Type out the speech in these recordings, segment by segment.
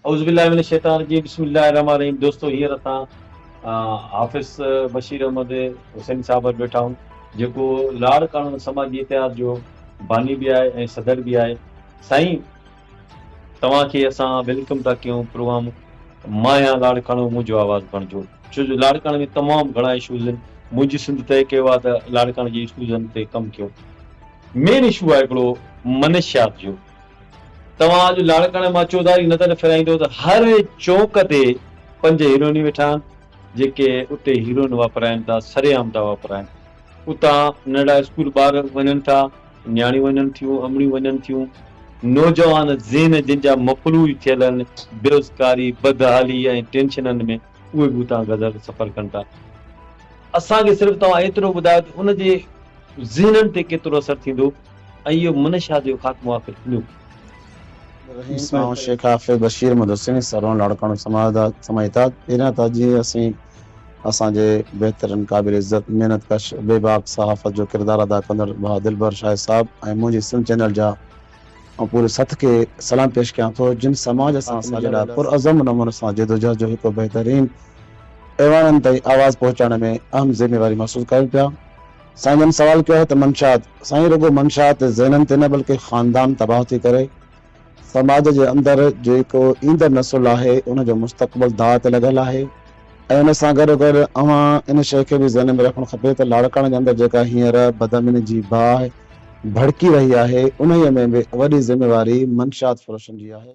اعوذ باللہ من الشيطان الرجيم بسم الله الرحمٰن الرحيم دوستو هينئر اسان حافظ بشير احمد حسين صاحب وٽ ويٺا آهيون جيڪو لاڙ قانون سماجي اتحاد جو باني به آهي ۽ صدر به آهي سائين توهان کي اسان ويلڪم ٿا ڪيون پروگرام مان يا لاڙڪاڻو منهنجو آواز بڻجو ڇو جو لاڙڪاڻي ۾ تمام گهڻا اشوز آهن منهنجي سنڌ طئي ڪيو آهي ته لاڙڪاڻي جي اشوزن تي ڪم ڪيون مين اشو آهي هڪڙو منشيات جو توهان اڄ لاڙڪاڻي مان چوڌاري نظر ڦيرائيندو ته هر چونڪ تي پنج هيروئنيون ويٺا آهن، جيڪي اتي هيروئن واپرائن ٿا، سري عام ٿا واپرائن. اتان ننڍڙا اسڪول ٻار وڃن ٿا، نياڻيون وڃن ٿيون، امڙيون وڃن ٿيون. نوجوان ذهن جن جا مفلوج ٿيل آهن بيروزگاري، بدحالي ۽ ٽينشنن ۾ اهي به اتان گذر سفر ڪن ٿا. اسان کي صرف توهان ايترو ٻڌايو ته ان جي ذهنن تي ڪيترو اثر ٿيندو. ۽ اهو منه شاهه جو خاتمو آخر ٿيندو به. رحيم سائون شيخ حافظ بشير مدثري سرون لاڙڪاڻو سماعتاد پهريان ته اڄ اسين اسان جي بهترين قابل عزت محنت ڪش بي باڪ صحافت جو ڪردار ادا ڪندڙ ڀاء دلبر شاهد صاحب ۽ منهنجي سنڌ چينل جا ۽ پوري سٿ کي سلام پيش ڪيان ٿو جن سماج سان اسان جي لاء پرعزم نموني سان جدوجهد جو هڪ بهترين ايوانن تائين آواز پهچائڻ ۾ اهم ذميواري محسوس ڪيو پيا سائين جن سوال ڪيو آهي ته منشات سائين رڳو منشات ذهنن تي نه بلڪه خاندان تباهه ٿي ڪري سماج جي اندر جيڪو ايندڙ نسل آهي ان جو مستقبل داء تي لڳل آهي ۽ ان سان گڏو گڏ اوهان ان شئي کي به ذهن ۾ رکڻ کپي ته لاڙڪاڻي جي اندر جيڪا هينئر بدامني جي باهه ڀڙڪي رهي آهي انهيء ۾ به وڏي ذميواري منشات فروشن جي آهي.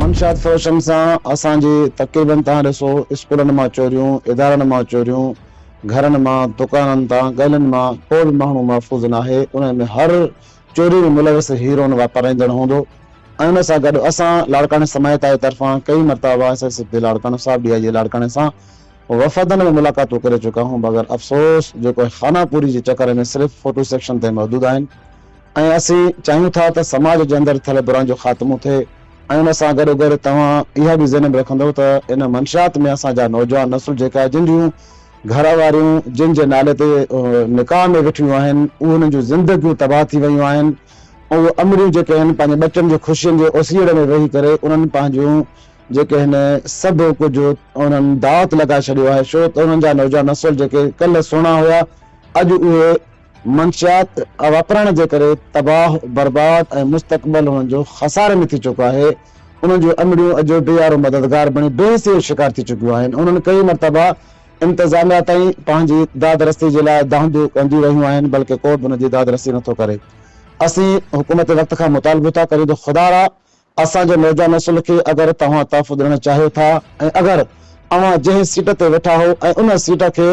منشيات فروشن سان اسان جي تقريبن تهان ڏسو اسڪولن مان چوريون، ادارن مان چوريون، گهرن مان، دڪانن تان، ڳلين مان ڪو به ماڻهو محفوظ ناهي، انهن ۾ هر چوري ۾ ملوث هيروئن واپارائيندڙ هوندو ۽ ان سان گڏ اسان لاڙڪاڻي سمايتائي طرفان ڪئي مرتابا ايس ايس پي لاڙڪاڻو صاحب ڊي آء جي لاڙڪاڻي سان وفدن ۾ ملاقاتون ڪري چڪا هون مگر افسوس جيڪو خانه پوري جي چڪر ۾ صرف فوٽو سيڪشن تائين محدود آهن. ۽ اسين چاهيون ٿا ته سماج جي اندر ٿيل براين جو خاتمو ٿئي ۽ ان سان گڏوگڏ توهان اها به ذهن ۾ رکندؤ ته ان منشيات ۾ اسان جا نوجوان نسل جيڪا جن جون گهر واريون جن جي نالي تي نڪاح ۾ ويٺيون آهن انهن جون زندگيون تباهه ٿي ويون آهن اهي امريون جيڪي آهن پنهنجي ٻچن جي خوشين جي اوسيئڙي ۾ ويهي ڪري انهن پنهنجون جيڪي هن سڀ ڪجهه انهن داء تي لڳائي ڇڏيو آهي ڇو ته انهن جا نوجوان نسل جيڪي ڪلهه سهڻا هيا اڄ اهي منشيات واپرائڻ جي ڪري تباهه برباد ۽ مستقبل انهن جو خساري ۾ ٿي چڪو آهي، انهن جون امڙيون اجهو بي يارو مددگار بڻي بي حسيء جو شڪار ٿي چڪيون آهن، انهن ڪئين مرتبا انتظاميا تائين پنهنجي داد رسي جي لاء دانهنديون ڪنديون رهيون آهن بلڪه ڪو به ان جي داد رسي نٿو ڪري، اسين حڪومت وقت کان مطالبو ٿا ڪريون ته خدارا اسان جي ميڊيا نسل کي اگر توهان تحفظ ڏيڻ چاهيو ٿا ۽ اگر اوهان جنهن سيٽ تي ويٺا هو ۽ ان سيٽ کي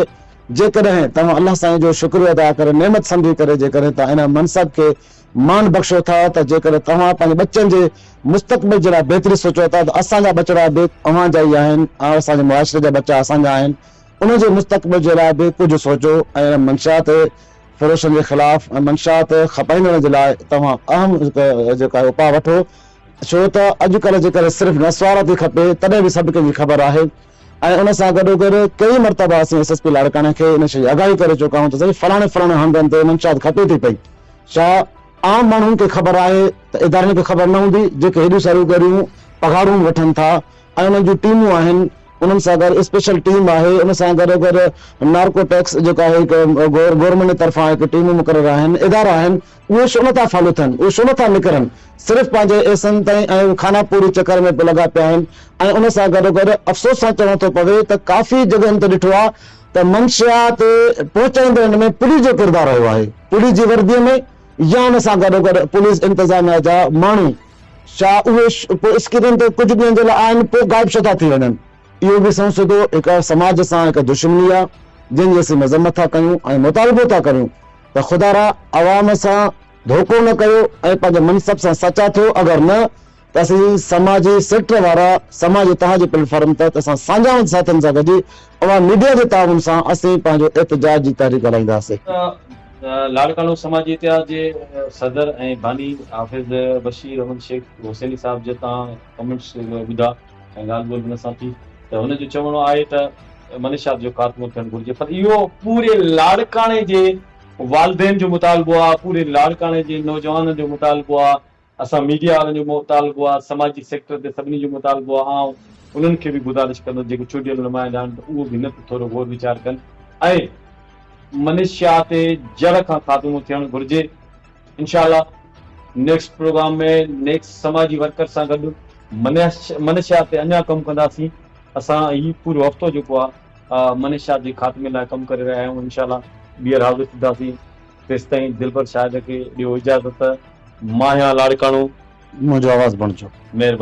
جيڪڏهن توهان الله سائين جو شڪريو ادا ڪري نعمت سمجهي ڪري جيڪڏهن توهان ان منصب کي مان بخشو ٿا ته جيڪڏهن توهان پنهنجي ٻچن جي مستقبل جي لاء بهتري سوچو ٿا ته اسان جا ٻچڙا به اوهان جا ئي آهن ۽ اسان جي معاشري جا ٻچا اسان جا آهن انهن جي مستقبل جي لاء به ڪجهه سوچو ۽ ان منشا تي فروشن جي خلاف منشيات کپائيندڙن جي لاء توهان اهم جيڪو آهي اپاء وٺو ڇو ته اڄڪلهه جيڪڏهن صرف نسوار ٿي کپي تڏهن به سڀ ڪنهن جي خبر آهي ۽ ان سان گڏوگڏ ڪئين مرتبه اسين ايس ايس پي لاڙڪاڻي کي ان شيء جي آگاهي ڪري چڪا آهيون ته سائين فلاڻي فلاڻي هنڌن تي منشيات کپي ٿي پئي ڇا عام ماڻهن کي خبر آهي ته ادارن کي خبر نه هوندي جيڪي هيڏيون ساريون ڳريون پگهارون وٺن ٿا ۽ انهن جون ٽيمون آهن انهن سان گڏ اسپيشل ٽيم آهي، ان سان گڏو گڏ نارڪو ٽيڪس جيڪو آهي هڪ گورنمينٽ جي طرفان هڪ ٽيمون مقرر آهن، ادارا آهن، اهي شو نٿا فالو ٿين، اهي شو نٿا نڪرن، صرف پنهنجي ايسن تائين ۽ خانه پوري چڪر ۾ لڳا پيا آهن ۽ ان سان گڏو گڏ افسوس سان چوڻو ٿو پوي ته ڪافي جڳهين تي ڏٺو آهي ته منشيات پهچائيندڙن ۾ پوليس جو ڪردار رهيو آهي، پوليس جي وردي ۾ يا ان سان گڏو گڏ پوليس انتظاميا جا ماڻهو. ڇا اهي پوء اسڪرين تي ڪجهه ڏينهن جي لاء آهن پوء غائب ڇو ٿا ٿي وڃن؟ اهو به سنئون سڌو هڪ سماج سان هڪ دشمني آهي جنهن جي اسين مذمت ٿا ڪيون ۽ مطالبو ٿا ڪريون ته خدا را عوام سان ڌوڪو نه ڪيو ۽ پنهنجي منصب سان سچا ٿيو اگر نه ته اسين سماجي سيڪٽر وارا سماجي تهان جي پليٽ فارم تحت اسان سانجهاون ساٿين سان گڏجي اوهان ميڊيا جي تعاون سان اسين پنهنجو احتجاج جي تحريڪ هلائينداسين. لاڙڪاڻو سماجي اتحاد جي صدر ۽ باني حافظ بشير احمد شيخ حسيني صاحب جي تان ڪمينٽس ٻڌا ۽ ڳالهه ٻولهه هن سان ٿي ته هن جو چوڻو آهي ته منشيات جو خاتمو ٿيڻ گهرجي پر اهو پوري لاڙڪاڻي جي والدين جو مطالبو آهي پوري لاڙڪاڻي جي نوجوانن جو مطالبو آهي اسان ميڊيا وارن جو مطالبو آهي، سماجي سيڪٽر تي سڀني جو مطالبو آهي، آئون انهن کي به گذارش ڪندس جيڪي چونڊيل نمائندا آهن ته اهو به نه ته ٿورو غور ويچار ڪن ۽ منشيات تي جڙ کان خاتمو ٿيڻ گهرجي انشاء الله نيڪسٽ پروگرام ۾ نيڪسٽ سماجي ورڪر سان گڏ منشيات تي اڃا ڪم ڪنداسين اسان هي پورو هفتو جيڪو آهي منشيات جي خاتمي لاء ڪم ڪري رهيا آهيون انشاء الله ٻيهر حاضر ٿينداسين. تيستائين دلبر شاهد کي ڏيو اجازت ماهيان لاڙڪاڻو. منهنجو آواز بڻجو. مهرباني.